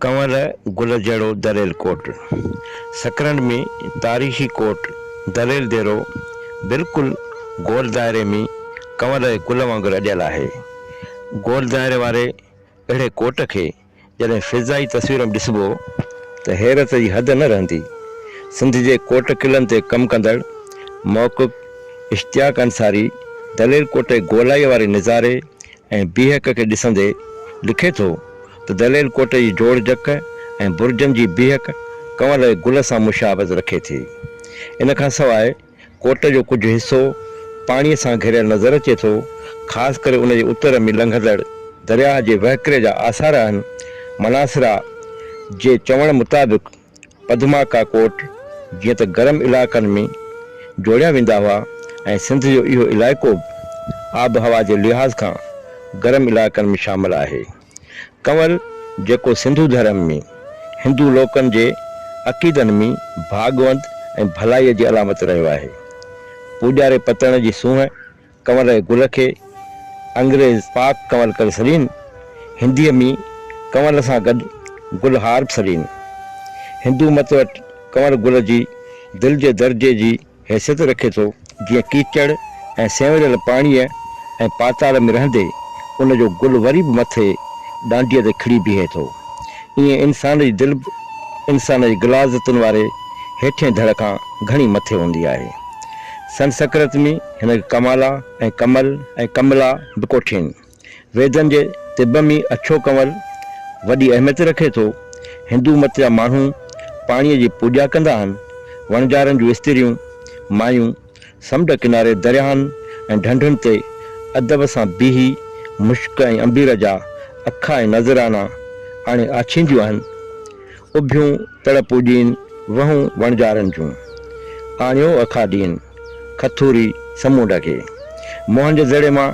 ڪنور گل جهڙو دريل ڪوٽ، سڪرنڊ ۾ تاريخي ڪوٽ دريل ديرو بلڪل گول دائري ۾ ڪنور جي گل وانگر اڏيل آهي. گول دائري واري اهڙي ڪوٽ کي جڏهن فضائي تصوير ۾ ڏسبو ته حيرت جي حد نه رهندي. سنڌ جي ڪوٽ قلعن تي ڪم ڪندڙ محقق اشتياق انصاري دريل ڪوٽ جي گولائيء واري نظاري ۽ بيهڪ کي ڏسندي لکي ٿو ته دليل ڪوٽ جي جوڙ جڪ ۽ برجن جي بيهڪ ڪنول جي گل سان مشابهت رکي ٿي. ان کان سواء ڪوٽ جو ڪجهه حصو پاڻيء سان گهريل نظر اچي ٿو، خاص ڪري ان جي اتر ۾ لنگهندڙ درياهه جي وهڪري جا آثار آهن. مناصرا جي چوڻ مطابق، پدما ڪاڪوٽ جيئن ته گرم علائقن ۾ جوڙيا ويندا هئا ۽ سنڌ جو اهو علائقو به آبهوا جي لحاظ کان گرم علائقن ۾ شامل آهي. ڪنول جيڪو سنڌو ڌرم ۾ هندو لوڪن جي عقيدن ۾ ڀاڳوند ۽ ڀلائيء جي علامت رهيو آهي. پوڄاري پتڻ جي سونهن، ڪنور ري گل کي انگريز پاڪ ڪنور ڪري سڏين، هنديء ۾ ڪنور سان گڏ گل هار به سڏين. هندو مت وٽ ڪنور گل جي دل جي درجي جي حيثيت رکي ٿو، جيئن ڪيچڙ ۽ سينوريل پاڻيء ۽ پاتال ۾ رهندي ان جو گل وري به مٿي ڏانڊيء تي کڙي بيهي ٿو، ايئن انسان جي دل به انسان جي غلاظتن واري هيٺئين ڌڙ کان گهڻي مٿي هوندي آهي. سنسڪرت ۾. هن کي ڪمالا ۽ ڪمل ۽ ڪملا به ڪوٺين. ويدن جي طب ۾ اڇو ڪنول وڏي اهميت رکي ٿو. هندو مت جا ماڻهو پاڻيء جي پوڄا ڪندا آهن. وڻجارن جون استريون، مايون، سمنڊ ڪناري درياهن ۽ ڍنڍن تي ادب سان بيهي مشڪ ۽ عنبير جا اکا ۽ نذرانا آڻي آڇينديون آهن. اڀيون تڙ پوڄين وهون وڻجارن جون، آڻيو اکاڏين کٿوري سمونڊ کي. موهن جي دڙي مان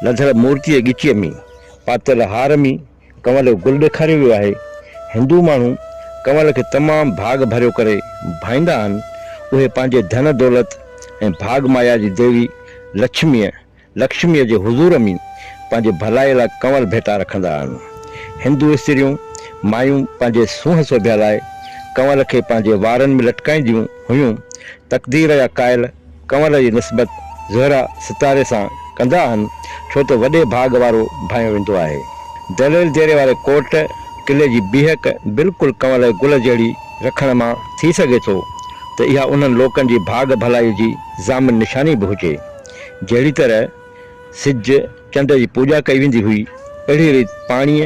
لڌل مورتيء ڳچيء ۾ پاتل هار ۾ ڪنول جو گل ڏيکاريو ويو آهي. هندو ماڻهو ڪنول کي تمام ڀاڳ ڀريو ڪري ڀائيندا آهن. اهي پنهنجي ڌن دولت ۽ ڀاڳ مايا جي ديوي لڇميء لڪشميء جي حضور ۾ پنهنجي ڀلائيء لاء ڪنول ڀيٽا رکندا آهن. هندو استريون، مايون، پنهنجي سونهن سوڀيا لاء ڪنول کي پنهنجي وارن ۾ لٽڪائينديون هيون. تقدير يا ڪائل ڪنول جي نسبت زهره، ستاري، سان ڪندا آهن، ڇو ته وڏي ڀاڳ وارو ڀانئيو ويندو آهي. دليل ديري واري ڪوٽ قلعي جي بيهڪ بلڪل ڪنول جي گل جهڙي رکڻ مان ٿي سگهي ٿو ته اها انهن لوڪن جي ڀاڳ ڀلائيء جي ضامن نشاني به هجي. جهڙي طرح سج، چنڊ جي پوڄا ڪئي ويندي هئي، اهڙي ريت پاڻيء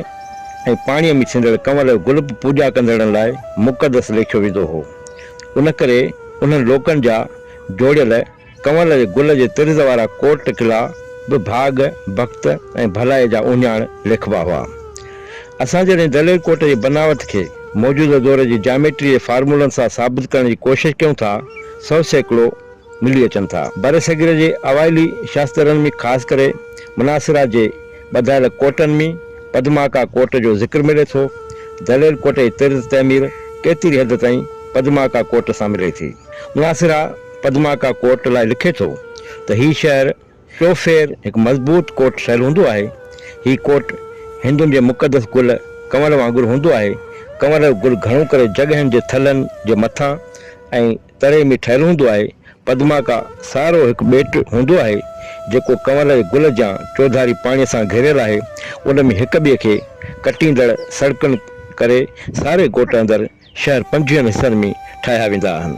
۽ پاڻيء ۾ ٿيندڙ ڪنول گل به پوڄا ڪندڙن لاء مقدس ليکيو ويندو هو. ان ڪري انهن لوڪن جا جوڙيل ڪنول جي گل جي طرز وارا ڪوٽ قلعا به ڀاڳ، بخت ۽ ڀلائيء جا اهڃاڻ ليکبا هئا. اسان جڏهن دلير ڪوٽ جي بناوت کي موجوده دور جي جاميٽري جي فارمولن سان ثابت ڪرڻ جي ڪوشش ڪيون ٿا، سو سيڪڙو، ملي اچن ٿا. برصغير جي اوائلي شاسترن ۾ خاص ڪري مناصره جي ٻڌايل ڪوٽن ۾ پدماڪا ڪوٽ جو ذڪر ملي ٿو. دليل ڪوٽ جي طرز تعمير ڪيتري حد تائين پدماڪا ڪوٽ سان ملي ٿي. مناصره پدماڪا ڪوٽ لاء لکي ٿو ته هي شهر چوڦير هڪ مضبوط ڪوٽ ٺهيل هوندو آهي. هي ڪوٽ هندن جي مقدس گل ڪنور وانگر هوندو آهي. ڪنور جو گل گهڻو ڪري جڳهين جي ٿلهن جي مٿان ۽ تري ۾ ٺهيل هوندو آهي. پدما ڪا سارو هڪ ٻيٽ هوندو آهي، جيڪو ڪنور جي گل جيان چوڌاري پاڻي سان گهيريل آهي. ان ۾ هڪ ٻئي کي ڪٽيندڙ سڙڪن ڪري ساري ڳوٺ اندر شهر پنجويهن حصن ۾ ٺاهيا ويندا آهن.